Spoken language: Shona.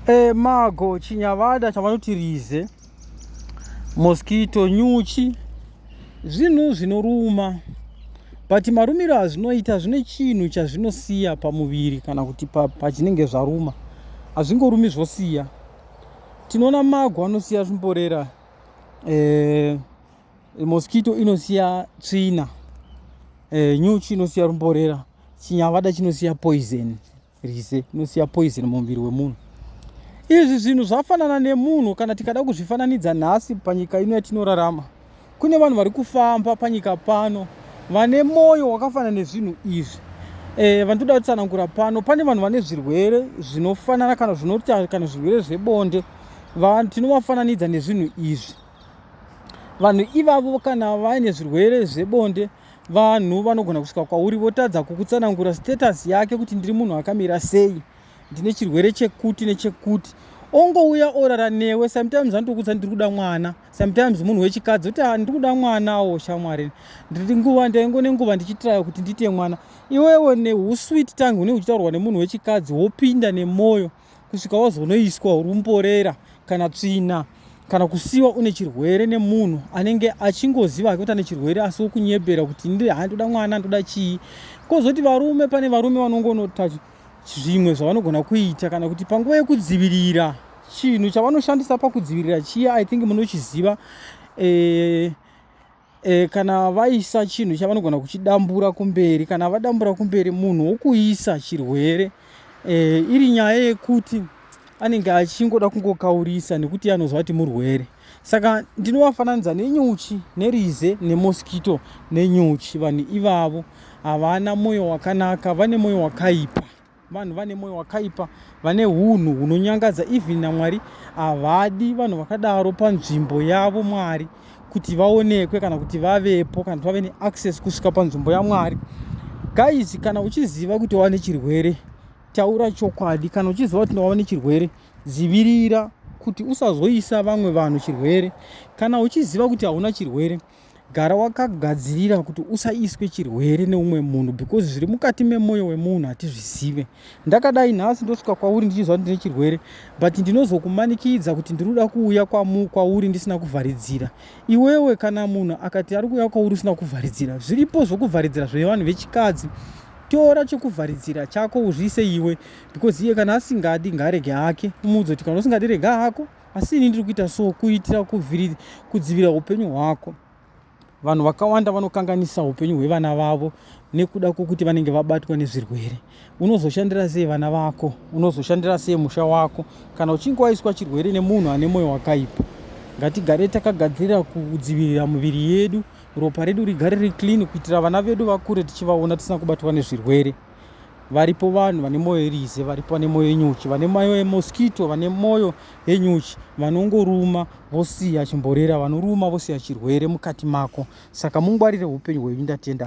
E, mago chinyavada chavanoti rize mosquito nyuchi zvinhu zvinoruma but marumiro azvinoita zvine chinhu chazvinosiya pamuviri kana kuti pachinenge pa zvaruma hazvingorumi zvosiya tinoona mago anosiya zvimborera e, mosquito inosiya tsvina e, nyuchi inosiya rumborera chinyavada chinosiya poison Rize inosiya poison mumuviri wemunhu. Izvi zvinhu zvafanana nemunhu kana tikada kuzvifananidza nhasi panyika ino yatinorarama. Kune vanhu vari kufamba panyika pano vane mwoyo wakafanana nezvinhu izvi. Eh, vandoda kutsanangura pano pane vanhu vane zvirwere zvinofanana kana zvinota kana zvirwere zvebonde tinovafananidza nezvinhu izvi vanhu ivavo kana vaine zvirwere zvebonde Vanhu vanogona kusvika kwauri votadza kukutsanangura status yake kuti ndiri munhu akamira sei, ndine chirwere chekuti nechekuti ongouya orara newe sometimes anotokudza ndiri kuda mwana sometimes munhu wechikadzi kuti ah, ndiri kuda mwana wo shamwari ndiri nguva ndaingo nenguva ndichitiraya kuti ndiite mwana iwewe neuswit tange une uchitaurwa nemunhu wechikadzi wopinda nemwoyo kusvika wazonoiswa rumborera kana tsvina kana kusiwa une chirwere nemunhu anenge achingoziva hake kuti ane chirwere asi wokunyebera kuti ndi ha ndoda mwana ndoda chii kozoti varume pane varume vanongonota zvimwe zvavanogona kuita kana kuti panguva yekudzivirira chinhu chavanoshandisa pakudzivirira chiya i think munochiziva eh, e, kana vaisa chinhu chavanogona kuchidambura kumberi kana vadambura kumberi munhu wokuisa chirwere e, iri nyaya yekuti anenge achingoda kungokaurisa nekuti anozva kuti murwere saka ndinovafananidza nenyuchi nerize nemoskito nenyuchi vanhu ivavo havana mwoyo wakanaka vane mwoyo wakaipa vanhu vane moyo wakaipa vane hunhu hunonyangadza even namwari havadi vanhu vakadaro panzvimbo yavo mwari kuti vaonekwe kana kuti vavepo kana kuti vave neaccess kusvika panzvimbo yamwari guys kana uchiziva kuti wava nechirwere taura chokwadi kana uchiziva kuti wava nechirwere dzivirira kuti usazoisa vamwe vanhu chirwere kana uchiziva kuti hauna chirwere Gara wakagadzirira kuti usaiswe chirwere neumwe munhu because zviri mukati memwoyo wemunhu hatizvizive. Ndakadai nhasi ndosvika kwauri ndichiziva kuti ndine chirwere but ndinozokumanikidza kuti ndiri kuda kuuya kwauri ndisina kuvharidzira. Iwewe kana munhu akati ari kuuya kwauri usina kuvharidzira, zviripo zvokuvharidzira zvevanhu vechikadzi tora chokuvharidzira chako uzviise iwe because iye kana asingadi ngaarege hake umuudze kuti kana usingadi rega hako Asi ini ndiri kuita so kuitira kudzivira upenyu hwako. Vanhu vakawanda vanokanganisa upenyu hwevana vavo nekuda kwokuti vanenge vabatwa nezvirwere. Unozoshandira sei vana vako? Unozoshandira sei musha wako kana uchinge waiswa chirwere nemunhu ane mwoyo wakaipa? Ngatigare takagadzirira kudzivirira miviri yedu, ropa redu rigare riri clean kuitira vana vedu vakure tichivaona tisina kubatwa nezvirwere. varipo vanhu vane mwoyo irize varipo vane mwoyo yenyuchi vane mwoyo yemoskito vane mwoyo yenyuchi vanongoruma vosiya chimborera vanoruma vosiya chirwere mukati mako saka mungwarire upenyu hwenyu ndatenda